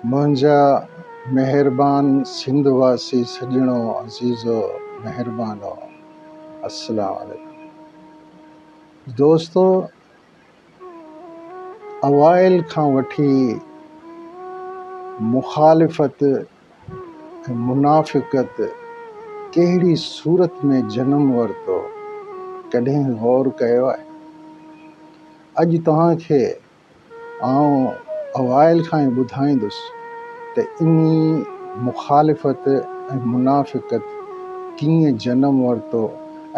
منهنجا مهربان سنڌ واسي سڄڻو عزيزو مهربانو السلام عليڪم دوستو اوائل کان وٺي مخالفت ۽ منافقت ڪهڙي صورت ۾ جنم ورتو ڪڏهن غور ڪيو آهي اڄ توهان کي آئون اوائل کان ئي ٻڌائيندس ته انهي مخالفت ۽ منافقت ڪيئن جنم ورتو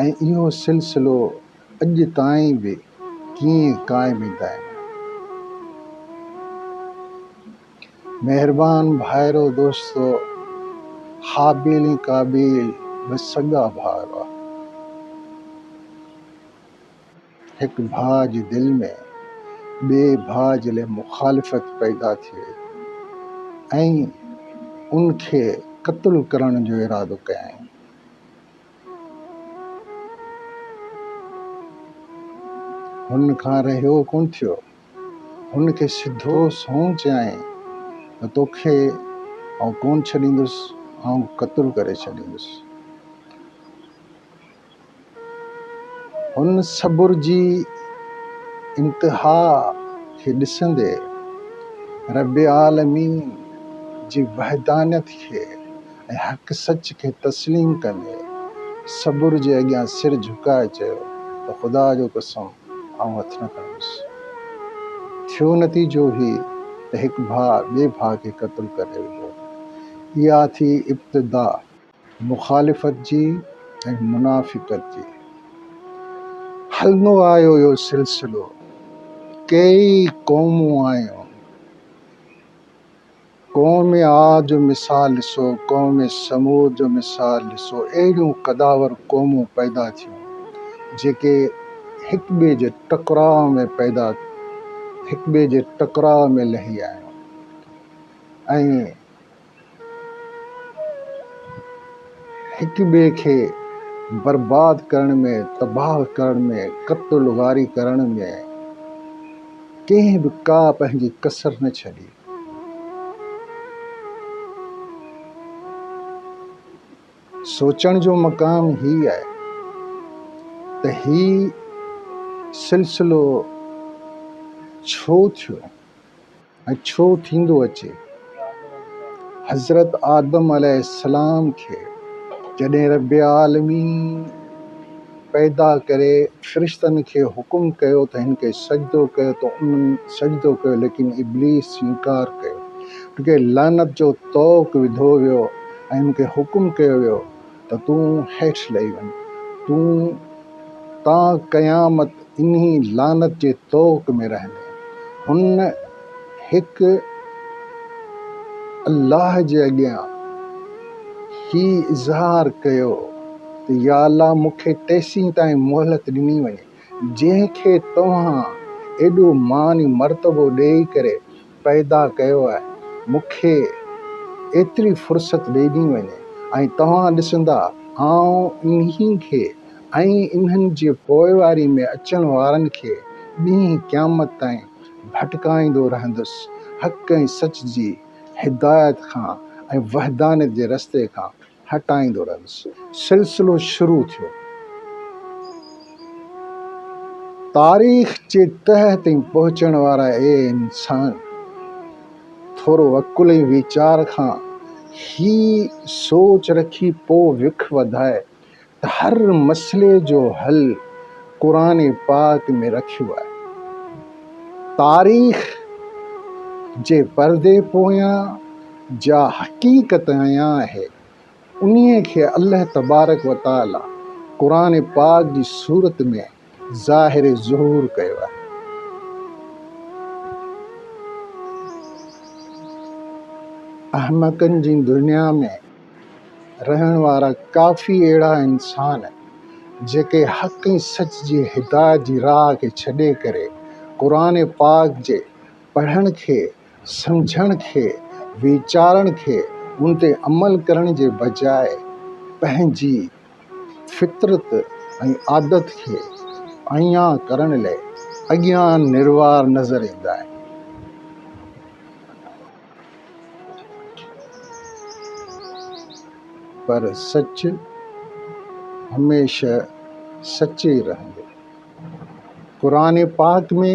۽ اهو سلسلو اڄ تائين به ڪيئن قائم دائم آهي. مهربان ڀائرو دوستو! هابيل ۽ قابيل ٻه سڳا ڀاء هئا. هڪ ڀاء جي دل ۾ ٻئي ڀاء جي لاء مخالفت پيدا ٿئي ۽ ان کي قتل ڪرڻ جو ارادو ڪيائين. هن کان رهيو ڪونه ٿيو. هن کي سڌو سنئون چيائين ته توکي آئون ڪونه ڇڏيندس، آئون قتل ڪري ڇڏيندس. هن صبر جي انتها کي ڏسندي رب العالمين جي وحدانيت کي ۽ حق سچ کي تسليم ڪندي صبر جي اڳيان سر جهڪائي چيو ته خدا جو قسم آئون هٿ نه کنيس. ٿيو نتيجو هي ته هڪ ڀاء ٻئي ڀاء کي قتل ڪري وڌو. اها ٿي ابتدا. مخالفت جي ۽ منافقت جي هلندو آيو اهو سلسلو ڪيئي قومون آيون قوم عاد جو مثال ڏسو قوم ثمود جو مثال ڏسو اهڙيون قداور قومون پيدا ٿيون جيڪي هڪ ٻئي جي ٽڪراء ۾ پيدا هڪ ٻئي جي ٽڪراء ۾ لهي آيون ۽ هڪ ٻئي کي برباد ڪرڻ ۾ تباهه ڪرڻ ۾ قتل غاري ڪرڻ ۾ ڪنهن به ڪا پنهنجي ڪسر نه ڇڏي. سوچڻ جو مقام هي آهي ته هي سلسلو ڇو ٿيو؟ ۽ ڇو ٿيندو اچي؟ حضرت آدم عليه السلام کي جڏهن رب عالمين پيدا ڪري فرشتن کي حڪم ڪيو ته هن کي سجدو ڪيو ته انهن سجدو ڪيو ليڪن ابليس انڪار ڪيو، ان کي لعنت جو طوق وڌو ويو ۽ ان کي حڪم ڪيو ويو ته تون هيٺ لهي وڃ، تون تا قيامت انهي لعنت جي طوق ۾ رهندين. هن هڪ الله جي اڳيان هي اظهار ڪيو ته يا الله مون کي تيسين تائين مهلت ڏني وڃي جنهن کي توهان ايڏو مان ۽ مرتبو ڏيئي ڪري پيدا ڪيو آهي مون کي ايتري فرصت ڏئي ڏني وڃي ۽ توهان ڏسندا آئون انهي کي ۽ انهن جي پوئواري ۾ اچڻ وارن کي ڏينهن قيامت تائين ڀٽڪائيندو رهندس حق ۽ سچ جي هدايت کان ۽ وحدانيت جي رستي کان هٽائيندو رهيس. سلسلو شروع ٿيو. تاريخ جي تهه تائين پهچڻ وارا اهي انسان ٿورو عقل ۽ ويچار کان هي سوچ رکي پوء وک وڌائي ته هر مسئلي جو حل قرآن پاڪ ۾ رکيو آهي. تاريخ جي پردي پويان جا حقيقت آيان آهي انهي کي الله تبارڪ وتعالي قرآن پاڪ جي صورت ۾ ظاهر ظهور ڪيو آهي. احمقن جي دنيا ۾ رهڻ وارا ڪافي اهڙا انسان جيڪي حق ۽ سچ جي هدايت جي راهه کي ڇڏي ڪري قرآن پاڪ جي پڙهڻ کي، سمجهڻ کي، ويچارڻ کي، ان تي عمل ڪرڻ جي بجاء پنهنجي فطرت ۽ عادت کي اڻڃاتو ڪرڻ لئي اڳيان نروار نظر ايندا آهن. پر سچ هميشه سچ ئي رهندو. قرآن پاڪ ۾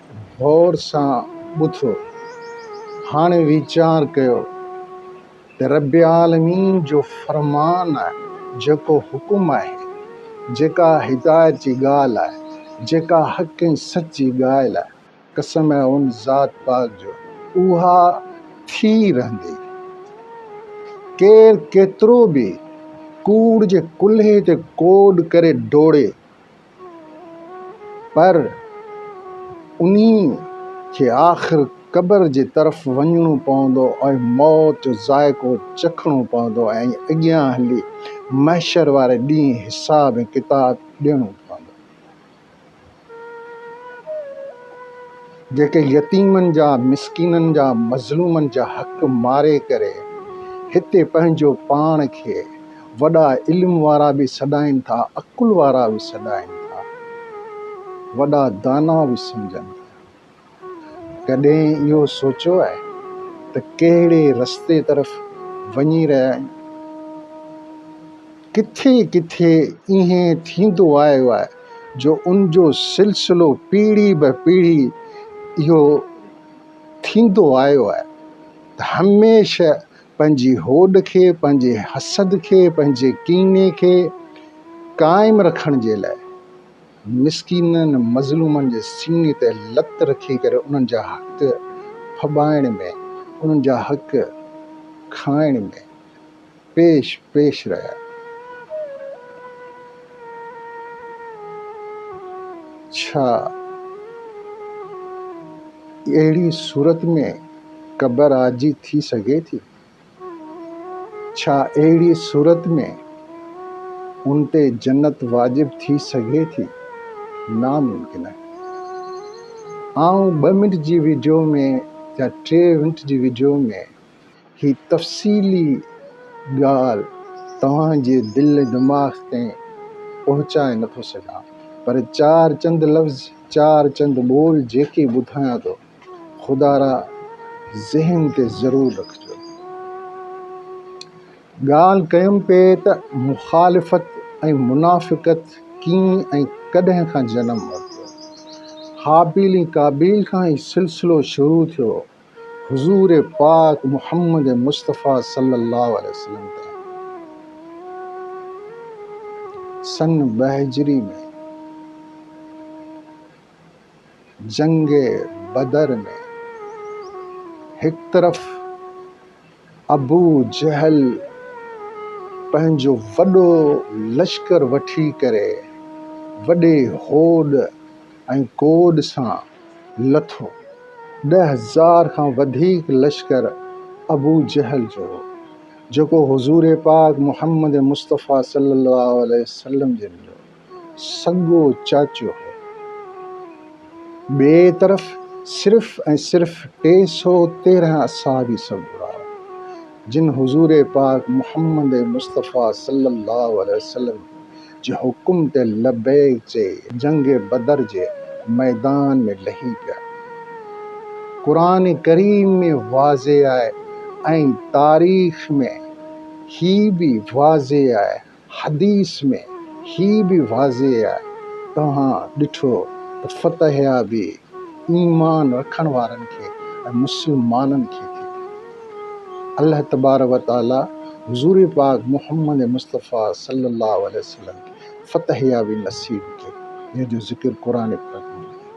غور سان ٻڌو، هاڻي ويچار ڪيو ته رب العالمين جو فرمان آهي، جيڪو حڪم آهي، جيڪا هدايت جي ڳالهه آهي، جيڪا حق ۽ سچ جي ڳالهه آهي، قسم آهي ان ذات پاڪ جو، اها ٿي رهندي. ڪير ڪيترو به ڪوڙ جي ڪلهي تي ڪوڏ ڪري ڊوڙي، پر انهي کي آخر قبر جي طرف وڃڻو پوندو ۽ موت جو ذائقو چکڻو پوندو ۽ اڳيان هلي محشر واري ڏينهن حساب ۽ ڪتاب ڏيڻو پوندو. جيڪي يتيمن جا، مسڪينن جا، مظلومن جا حق ماري ڪري هتي پنهنجو پاڻ کي وڏا علم وارا به سڏائين ٿا، عقل وارا به سڏائين ٿا، وڏا دانا به سمجهن ٿا. ڪڏهن اهو سوچيو آهي ته ڪهڙي رستي طرف وڃي رهيا آهيون؟ ڪٿي ڪٿي ائين ٿيندو آيو آهي جو ان جو سلسلو پيڙهي به پيڙهي اهو ٿيندو آيو آهي ته هميشه پنهنجي هوڏ کي، پنهنجي حسد کي، پنهنجي ڪيني کي قائم رکڻ جي لاء مسڪينن مظلومن جي سيني تي لت رکي ڪري انهن جا حق ڦٻائڻ ۾، انهن جا حق کائڻ ۾، پيش پيش رهيا. ڇا اهڙي صورت ۾ قبر عاجزي ٿي سگهي ٿي؟ ڇا اهڙي صورت ۾ ان تي جنت واجب ٿي سگهي ٿي؟ ناممڪن آهي. آئون ٻه منٽ جي وڊيو ۾ يا ٽي منٽ جي وڊيو ۾ هي تفصيلي ڳالهه توهان جي دل دماغ تائين پهچائي نه ٿو سگهان پر چار چند لفظ چار چند ٻول جيڪي ٻڌايان ٿو خدا را ذهن تي ضرور رکجو ڳالهه ڪيم پئي ته مخالفت ۽ منافقت ڪين ۽ ڪڏهن کان جنم ورتو هابيل ۽ قابيل کان هي سلسلو شروع ٿيو حضور پاڪ محمد مصطفيٰ صلّي اللّٰه عليه وسلّم تي سن ٻه هجري ۾ جنگ بدر ۾ هڪ طرف ابو جهل پنهنجو وڏو لشڪر وٺي ڪري وڏي هوڏ ۽ ڪوڏ سان لٿو. ڏهه هزار کان وڌيڪ لشڪر ابو جهل جو هو، جيڪو حضور پاڪ محمد مصطفيٰ صلّي اللّٰه عليه وسلّم جن جو. سڳو چاچو هو. ٻئي طرف صرف ۽ صرف ٽي سؤ تيرهن اصحابي سڳورا هئا، جن حضور پاڪ محمد مصطفيٰ صلّي اللّٰه عليه وسلّم جي حڪم تي لبّيڪ چئي جنگ بدر جي ميدان ۾ لهي پيا. قرآن ڪريم ۾ واضح آهي ۽ تاريخ ۾ هي به واضح آهي حديث ۾ هي به واضح آهي، توهان ڏٺو ته فتح يابي ايمان رکڻ وارن کي ۽ مسلمانن کي ٿي ملي. الله تبارڪ و تعاليٰ حضور پاڪ محمد مصطفيٰ صلّي اللّٰه عليه وسلّم کي فتح يابي نصيب ڪئي، جنهن جو ذڪر قرآن پاڪ ۾ ملي ٿو.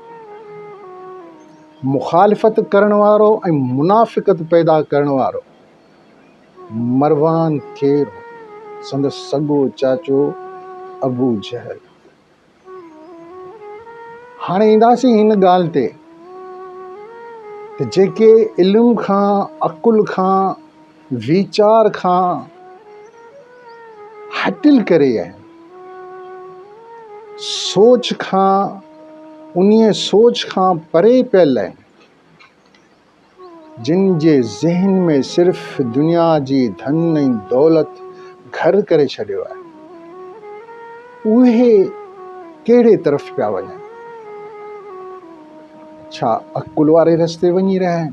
مخالفت ڪرڻ وارو ۽ منافقت پيدا ڪرڻ وارو مروان کي سندس سڳو چاچو ابو جهل هاڻي اينداسين هن ڳالهه تي ته جيڪي علم کان عقل کان ويچار کان هٽل ڪري آهن سوچ کان انهي سوچ کان پري پيل آهن جن جي ذهن ۾ صرف دنيا جي ڌن ۽ دولت گهر ڪري ڇڏيو آهي، اهي ڪهڙي طرف پيا وڃن؟ ڇا عقل واري رستي وڃي رهيا آهن؟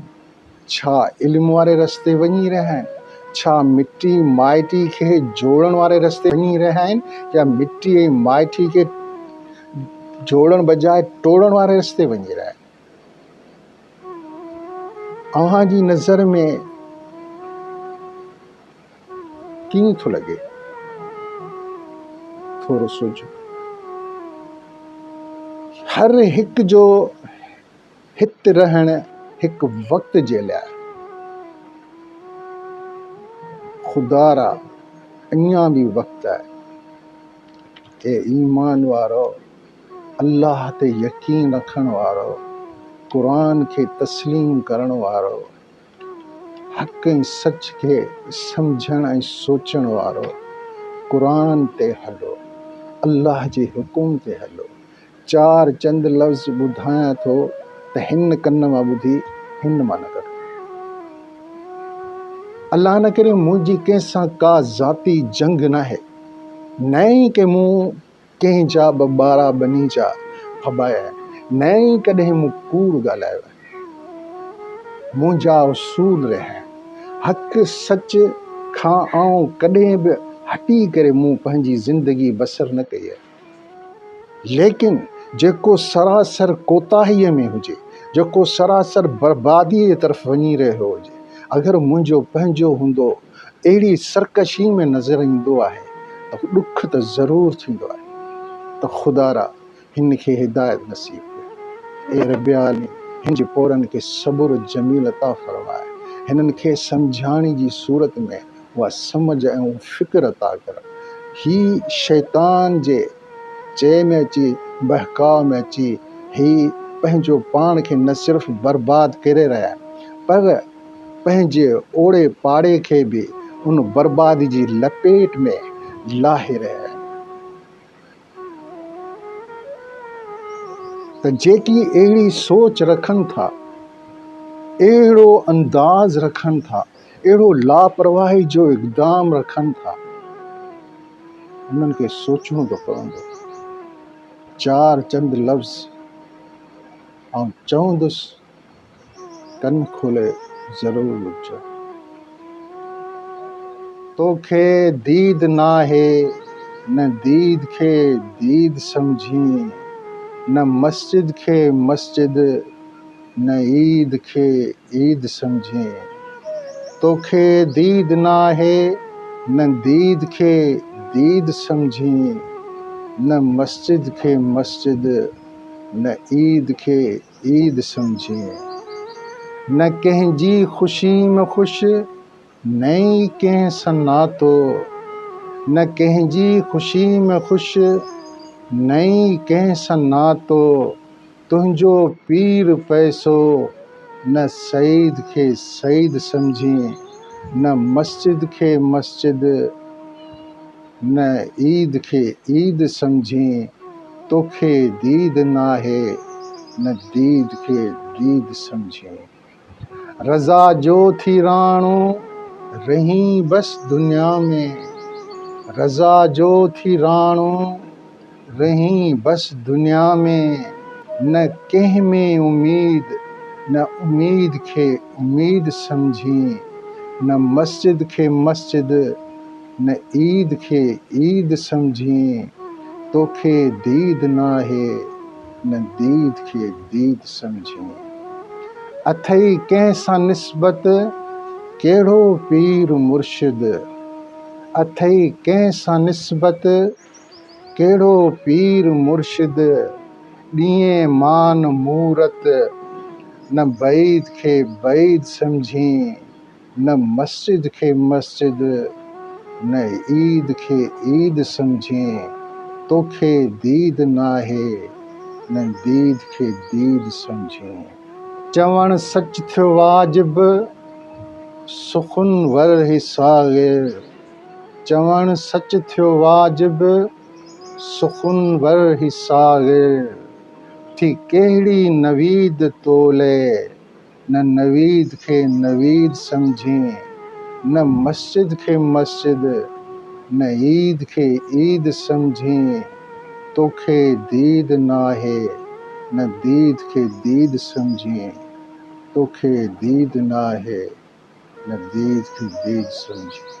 ڇا علم واري رستي وڃي رهيا آهن؟ ڇا مٽي مائٽي کي جوڙڻ واري رستي وڃي رهيا آهن يا مٽي ۽ مائٽي کي جوڙڻ بجاء ٽوڙڻ واري رستي وڃي رهيا آهن؟ اوهان جي نظر ۾ ڪيئن ٿو لڳي؟ ٿورو سوچو. هر هڪ جو هت رهڻ هڪ وقت جي لاء آهي. خدارا اڃا به وقت آهي. اي ايمان وارؤ! الله تي يقين رکڻ وارو، قرآن کي تسليم ڪرڻ وارو، حق ۽ سچ کي سمجهڻ ۽ سوچڻ وارو، قرآن تي هلو، الله جي حڪم تي هلو. چار چند لفظ ٻڌايان ٿو ته هن ڪن مان ٻڌي هن مان نه ڪڍو. الله نه ڪري منهنجي ڪنهن سان ڪا ذاتي جنگ ناهي نه ئي ڪي مون ڪنهن جا به ٻارا ٻني جا ڦٻايا نه ئي ڪڏهن مون ڪوڙ ڳالهايو آهي منهنجا اصول رهيا آهن حق سچ کان آئون ڪڏهن به هٽي ڪري مون پنهنجي زندگي بسر نه ڪئي آهي ليڪن جيڪو سراسر ڪوتاهي ۾ هجي جيڪو سراسر بربادي جي طرف وڃي رهيو هجي اگر منهنجو پنهنجو هوندو اهڙي سرڪشي ۾ نظر ايندو آهي ته ڏک ته ضرور ٿيندو آهي ته خدارا هن کي هدايت نصيب ڪر. اي رب عالمين هن جي پورن کي صبر جميل عطا فرماء. هنن کي سمجهاڻي جي صورت ۾ اها سمجهه ۽ اهو فڪر عطا ڪر. هي شيطان جي چئي ۾ اچي بهڪاء ۾ اچي هي پنهنجو پاڻ کي نه صرف برباد ڪري رهيا آهن پر پنهنجي اوڙي پاڙي کي به ان بربادي جي لپيٽ ۾ لاهي رهيا آهن ته جيڪي اهڙي سوچ رکن ٿا، اهڙو انداز رکن ٿا، اهڙو لاپرواهي جو اقدام رکن ٿا، انهن کي سوچڻو ته پوندو. چار چند لفظ آئون چوندس. ڪن کولي ضرور ٻڌج. توکي ديد ناهي نه ديد کي ديد سمجهين نه مسجد کي مسجد نه عيد کي عيد سمجهين توکي ديد ناهي نه ديد کي ديد سمجهين نه مسجد کي مسجد نه عيد کي عيد سمجهي نه ڪنهن جي خوشي م خوش نه ئي ڪنهن سان ناتو نه ڪنهن جي خوشي م خوش نه ئي ڪنهن سان ناتو تنهنجو پير پئسو نه سيد کي سيد سمجهي نه مسجد کي مسجد نه عيد کي عيد سمجهين، توکي ديد ناهي، نه ديد کي ديد سمجهين. رضا جو ٿي راڻو، رهين بس دنيا ۾. رضا جو ٿي راڻو، رهين بس دنيا ۾. نه ڪنهن ۾ اميد، نه اميد کي اميد سمجهين. نه مسجد کي مسجد. نه عيد کي عيد سمجهين، توکي ديد ناهي، نه ديد کي ديد سمجهين. اٿئي ڪنهن سان نسبت، ڪهڙو پير مرشد، اٿئي ڪنهن سان نسبت، ڪهڙو پير مرشد، ڏينهين مان مورت، نه بعيد کي بعيد سمجهين. نه مسجد کي مسجد نه عيد کي عيد سمجهين توکي ديد ناهي نه ديد کي ديد سمجهين. چوڻ سچ ٿيو واجب سخن ور هي صاغر چوڻ سچ ٿيو واجب سخن ور هي صاغر ٿي ڪهڙي نويد تولئي نه نويد کي نويد سمجهين، نه مسجد کي مسجد، نه عيد کي عيد سمجهين، توکي ديد ناهي، نه ديد کي ديد سمجهين، توکي ديد ناهي، نه ديد کي ديد سمجهين.